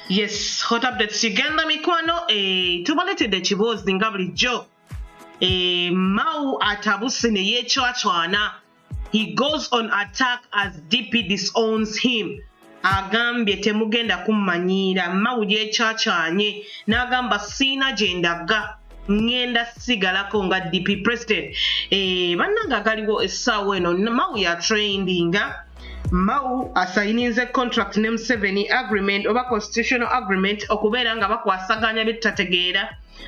yes hot updates kigenda mikwano eh, tubaletedde ekiboozi nga bulijjo eh, mau atabuse ne yeecwacwana he goes on attack as dp disowns him agambye temugenda kummanyiira mau yeecacanye n'agamba siina gye ndaga ŋŋenda sigalako nga dp president eh, bannanga agaliwo essaawa eno mau ya trendinga mau asayininze contract ne museveni agreement oba constitutional agreement okubeera nga bakwasaganya bye tutategeera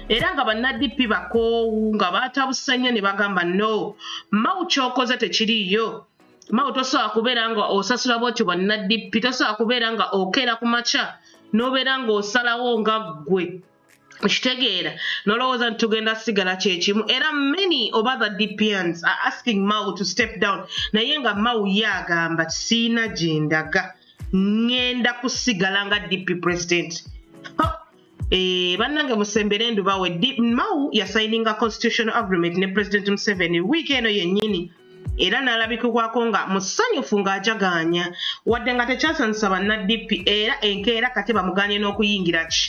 era nga bannadp bakoowu nga baatabuse nnyo ne bagamba no mau kyokoze tekiriiyo mau tosobola kubeera nga osasula bwotyo bannadp tosobola kubeera nga okeera ku makya n'obeera ng'osalawo nga ggwe okitegeera nolowooza nti tugenda sigala kyekimu era many of other dpns are asking mau to step down naye nga mau ye agamba siina gyendaga ŋŋenda kusigala nga dp president Eh, bannange musembere endubawe mau yasayininga constitutional agreement ne president museveni wiiki eno yennyini era n'alabikibwako nga musanyufu ng'ajagaanya wadde nga tekyasanyusa banna-DP era enkeera kati bamugaanye n'okuyingira ki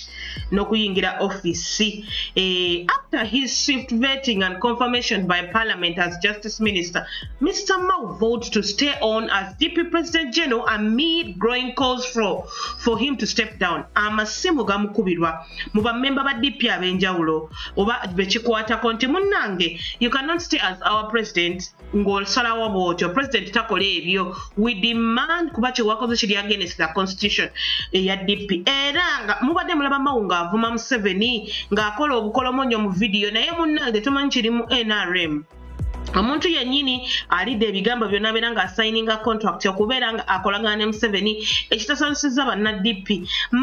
n'okuyingira ofiisi eh, after his shift vetting and confirmation by parliament as justice minister mr mao vote to stay on as dp president general amid growing calls for, for him to step down amasimu gamukubirwa mu bammemba ba dp ab'enjawulo oba bekikwatako nti munnange you cannot stay as our president ng'osalawo bwotyo president takola ebyo we demand kuba kyewakoze kiri against the constitution eya dp era nga mubadde mulaba mawu ng'avuma museveni ng'akola obukolomonyo mu vidiyo naye munnange tumanyi kiri mu nrm omuntu yennyini alidde ebigambo byonna abeera nga asayininga contract okubeera nga akolagana ne museveni ekitasanyusizza bannadp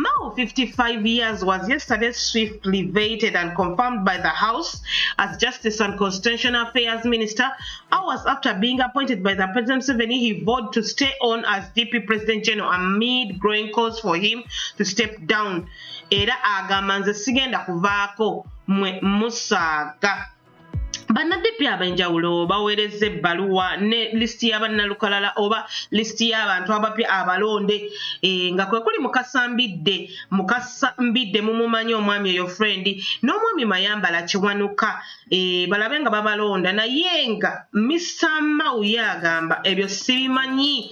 mao 55 years was yesterday swiftly vated and confirmed by the house as justice and constitutional affairs minister hours after being appointed by the president museveni he vowed to stay on as dp president general amid growing calls for him to step down era agamba nze sigenda kuvaako mwe musaaga bannadipi ab'enjawulo baweerezza ebbaluwa ne lisiti ya bannalukalala oba lisiti y'abantu abapya abalonde e, nga kwe kuli mukasa mbidde mukasa mbidde mumumanyi omwami oyo frendi n'omwami mayambala kiwanuka e, balabe nga babalonda naye nga misa mauye agamba ebyo sibimanyi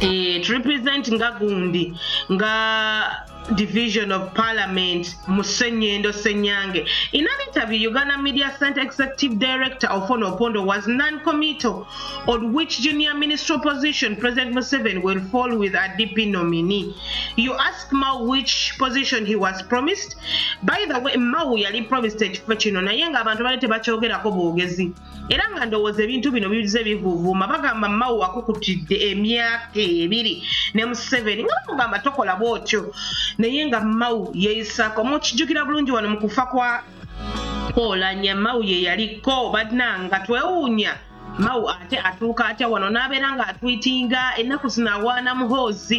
eh, to represent nga gundi nga division of parliament musenyendo senyange in an interview uganda media center executive director ofono opondo was non-committal on which junior minister position president museven will fall with a dp nominee you ask mao which position he was promised by the way mao yali promised ekifo kino naye nga abantu bali tebakyogerako bwogezi era nga ndowooza ebintu bino bize bivuvuuma bagamba mawu akukutidde emyaka ebiri ne museveni nga bamugamba tokola bwotyo naye nga mawu yeyisaako mukijjukira bulungi wano mu kufa kwa koolanya mawu ye yaliko bananga twewuunya mawu ate atuuka atya wano n'abeera ng'atwitinga ennaku zinawaana muhoozi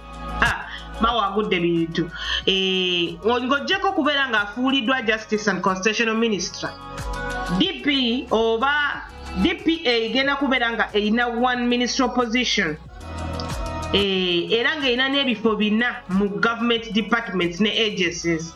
mawa agudde bintu eh, ng'ogyeko okubeera ng'afuuliddwa justice and constitutional minister dp oba dpa egenda kubeera nga erina one ministry opposition eh, era ng'erina n'ebifo bina mu government departments ne agencies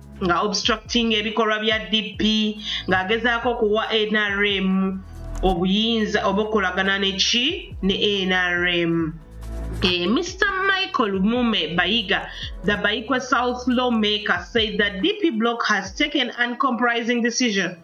nga obstructing ebikolwa bya DP ng'agezaako okuwa NRM obuyinza oba okukolagana neki ne NRM. Eh, Mr. Michael Mume Baiga, the Baikwa South lawmaker, said the DP bloc has taken an compromising decision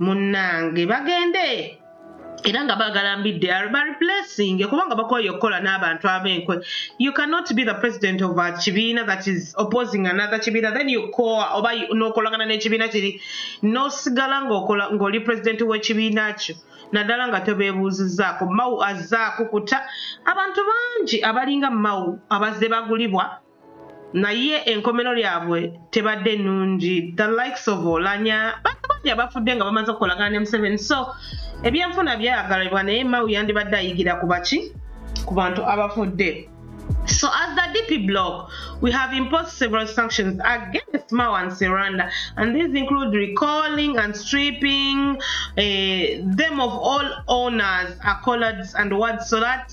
munnange bagende era nga baagala mbidde ba replacing kubanga bakoye okukola n'abantu ab'enkwe you cannot be the president of a kibiina that is opposing another kibiina then you call oba n'okolagana n'ekibiina kiri n'osigala ng'okola ng'oli president w'ekibiina kyo naddala nga tobeebuuzizzaako mawu azze akukuta abantu bangi abalinga mawu abazze bagulibwa naye enkomero lyabwe tebadde nungi the likes of olanya bantu bangi abafudde nga bamaze okukolagana ne museveni so ebyenfuna byagalibwa naye mawu yandibadde ayigira ku baki ku bantu abafudde So as the DP bloc, we have imposed several sanctions against Mao and Seranda, and these include recalling and stripping uh, them of all owners, accolades, and awards so that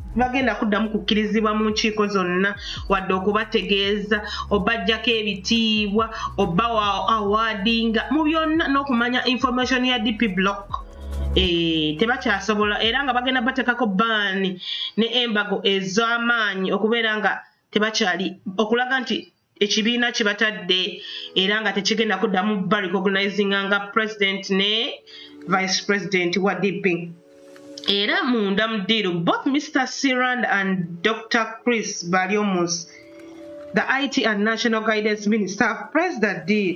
bagenda kuddamu kukkirizibwa mu nkiiko zonna wadde okubategeeza obajjako ebitiibwa oba wa awadinga mu byonna n'okumanya information ya dp block Eh, tebakyasobola era nga bagenda bateekako baani ne embago ez'amaanyi okubeera nga tebakyali okulaga nti ekibiina kye batadde era nga tekigenda kuddamu ba recognizinga nga president ne vice president wa dp era munda mu ddiiru both mr sirand and dr chris balyomus the it and national guidance minister have pressed the deal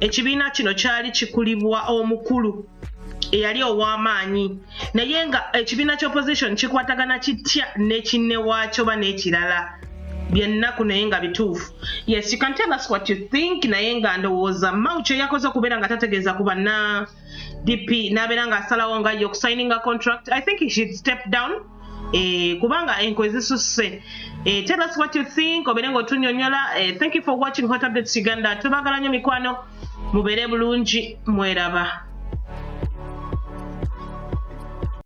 ekibiina kino kyali kikulibwa omukulu eyali ow'amaanyi naye nga ekibiina kya opposition kikwatagana kitya nekinne waakyo ba n'ekirala byennaku naye nga bituufu yes you can tell us what you think naye nga ndowooza mau kyeyakoze okubeera nga tategeeza ku banna dp n'abeera ng'asalawo nga ye okusayininga contract i think he should step down eh, kubanga enko ezisusse eh, tell us what you think obeere ng'otunyonyola eh, thank you for watching hot updates uganda tubagala nnyo mikwano mubeere bulungi mweraba